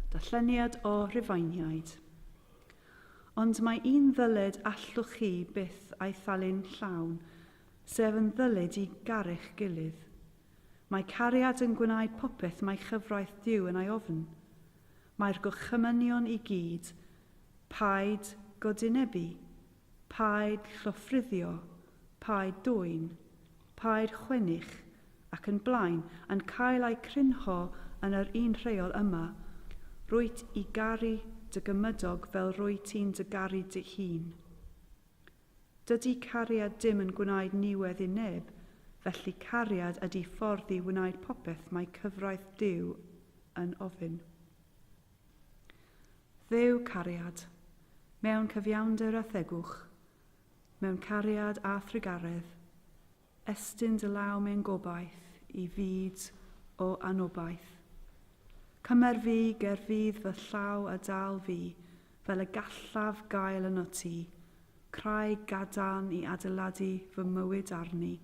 Darlleniad o Rhufeiniaid. Ond mae un ddyled allwch chi byth a'i thalu'n llawn, sef yn ddyled i garu'ch gilydd. Mae cariad yn gwneud popeth mae chyfraith Duw yn ei ofn. Mae'r gorchymynion i gyd, Paid godwynebu, Paid llofruddio, paid dwyn, paid chwennych, ac yn blaen, yn cael eu crynho yn yr un rheol yma, Rwyt i garu dy gymydog fel rwy ti'n dy garu dy hun. Dydy cariad dim yn gwnaed niwedd i neb, felly cariad ydy ffordd i wnaed popeth mae cyfraith Duw yn ofyn. Dduw cariad, mewn cyfiawnder a thegwch, mewn cariad a thrugaredd, estyn dy law mewn gobaith i fyd o anobaith. Cymer fi ger fydd fy llaw a dal fi fel y gallaf gael yno ti, craig gadarn i adeiladu fy mywyd arni,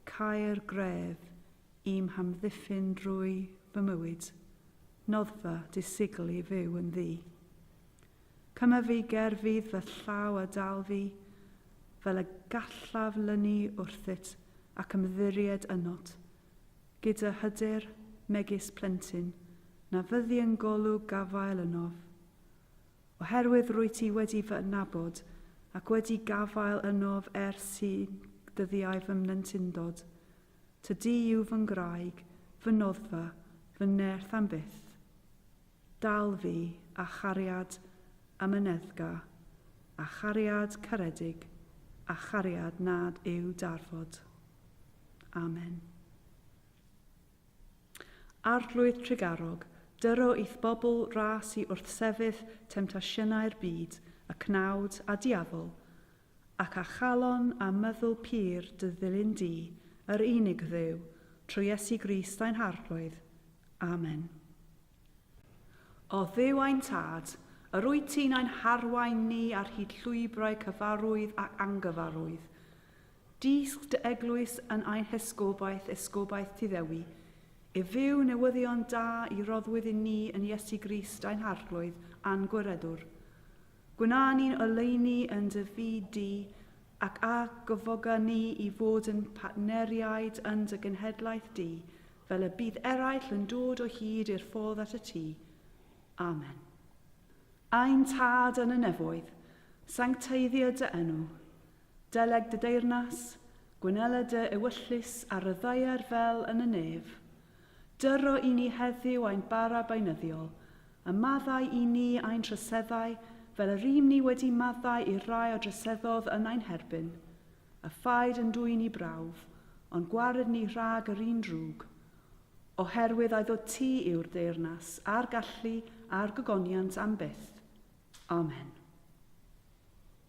caer gref Ym hamddiffyn drwy fy mywyd. Noddfa, disigl i fyw yn ddu. Cymaf fi ger fydd fy llaw a dal fi, fel y gallaf lynu wrthyt ac ymddiried ynot, gyda hyder, megis plentyn, na fyddi yn golwg gafael ynof. Oherwydd rwyt ti wedi fy adnabod, ac wedi gafael ynof ers i ddyddiau fy mhlentindod, Tŷ du yw fy ngwraig, fy noddfa, fy nerth am byth. Dal fi, a chariad amyneddgar, a chariad caredig, a chariad nad yw darfod. Amen. Arglwydd trugarog, dyro i'th bobl ras i wrthsefyll temtasiynau'r byd, y cnawd, a diafol, Ac a chalon a myddwl pur dy ddilyn di, yr unig Dduw, trwy Iesu Grist ein Harglwydd. Amen. O Dduw ein Tad, yr wyt ti'n ein harwain ni ar hyd llwybrau cyfarwydd ac angyfarwydd. Dysg dy eglwys yn ein hesgobaeth, esgobaeth Tyddewi, i fyw newyddion da i roddwyd i ni yn Iesu Grist ein Harglwydd a'n Gwiredwr. Gwna ni'n oleuni yn dy fyd di, ac a gofoga ni i fod yn partneriaid yn dy genhedlaeth di, fel y bydd eraill yn dod o hyd i'r ffordd at y tŷ. Amen. Ein Tad yn y nefoedd, sancteiddio dy enw. Deleg dy deyrnas, gwnela dy ewyllys ar y ddaear fel yn y nef. Dyro i ni heddiw ein bara beunyddiol, a maddau i ni ein troseddau fel y rym ni wedi maddau i'r rai a droseddodd yn ein herbyn. A phaid yn dwyn i brawf, ond gwared ni rhag yr un drwg. Oherwydd ai ddod ti yw'r deyrnas, a'r gallu, a'r gogoniant am byth. Amen.